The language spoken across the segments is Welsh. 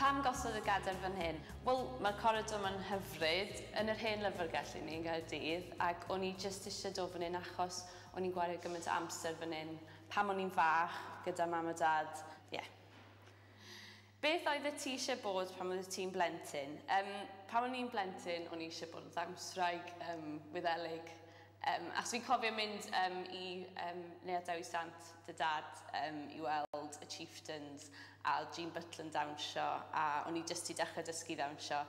Pam gosod y gadair fan hyn? Wel, mae'r coridor ma'n hyfryd, yn yr hen lyfrgell i ni yn Nghaerdydd, ac o'n i jyst eisiau dod fan hyn achos o'n i'n gwario gymaint o amser fan hyn pam o'n i'n fach, gyda mam a dad, ie. Beth oeddet ti eisiau bod pan oeddet ti'n blentyn? Yym, pan o'n i'n blentyn, o'n i eisiau bod yn ddawnswraig, yym, Wyddelig, Yym, achos fi'n cofio mynd yym i yym Neuadd Dewi Sant dy dad yym i weld y Chieftains a oedd Jean Butler yn dawnsio a o'n i jyst 'di dechrau dysgu ddawnsio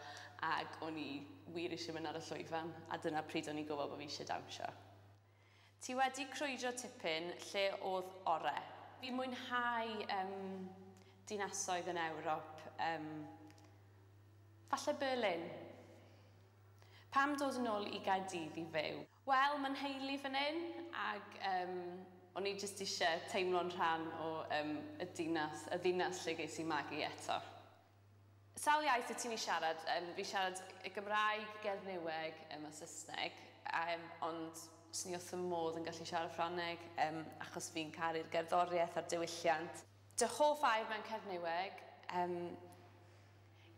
ac o'n i wir eisiau mynd ar y llwyfan a dyna pryd o'n i'n gwybod bod fi eisiau dawnsio. Ti wedi crwydro tipyn, lle oedd orau? Fi'n mwynhau yym dinasoedd yn Ewrop, yym falle Berlin. Pam dod yn ol i Gaerdydd i fyw? Wel ma nheulu fan hyn ag yym o'n i jyst ishe teimlo'n rhan o yym y dinas, y ddinas lle ges i magu eto. Sawl iaith wyt ti'n i siarad? Yym fi siarad y Gymraeg, Gernyweg yym a Sysneg a yym ond swn i wrth fy modd yn gallu siarad Ffrangeg yym achos fi'n caru'r gerddoriaeth a'r diwylliant. Dy hoff air mewn Cernyweg? Yym.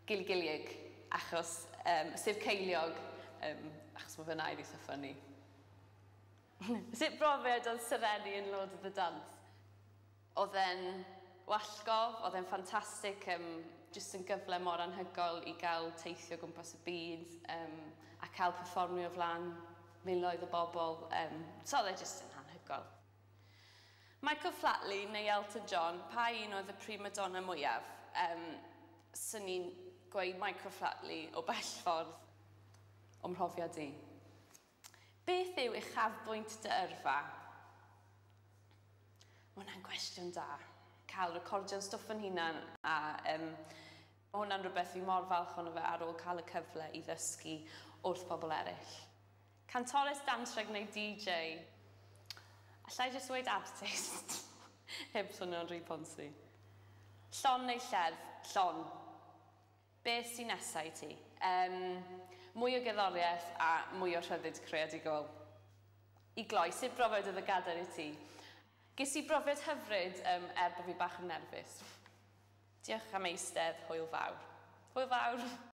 Gilgilieg, achos yym sef ceiliog yym achos ma' fy nai fi itha funny. Sut brofiad oedd Serenni yn Lord of the Dance? Odd e'n wallgof odd e'n ffantastic yym jyst yn gyfle mor anhygoel i ga'l teithio o gwmpas y byd yym a ca'l perfformio o flan miloedd o bobol yym so odd e jyst yn anhygoel. Michael Flatley neu Elton John, pa un oedd y prima donna mwyaf? Yym, 'swn i'n gweud Michael Flatley o bell ffordd. O mhrofiad i. Beth yw uchafbwynt dy yrfa? Ma' hwnna'n gwestiwn da. Cael recordio'n stwff yn hunan a yym ma' hwnna'n rhywbeth fi mor falch ohono fe ar ôl cael y cyfle i ddysgu wrth bobl eraill. Cantores dantreg neu DJ? Alla i jyst ddweud artist heb swnio'n rhy ponsi. Llon neu lled? Llon. Beth sy nesa i ti? Yym, mwy o gerddoriaeth a mwy o rhyddid creadigol. I gloi, sut brofiad oedd y gadair i ti? Ges i brofiad hyfryd yym er bo fi bach yn nerfus. Diolch am eistedd, hwyl fawr. Hwyl fawr!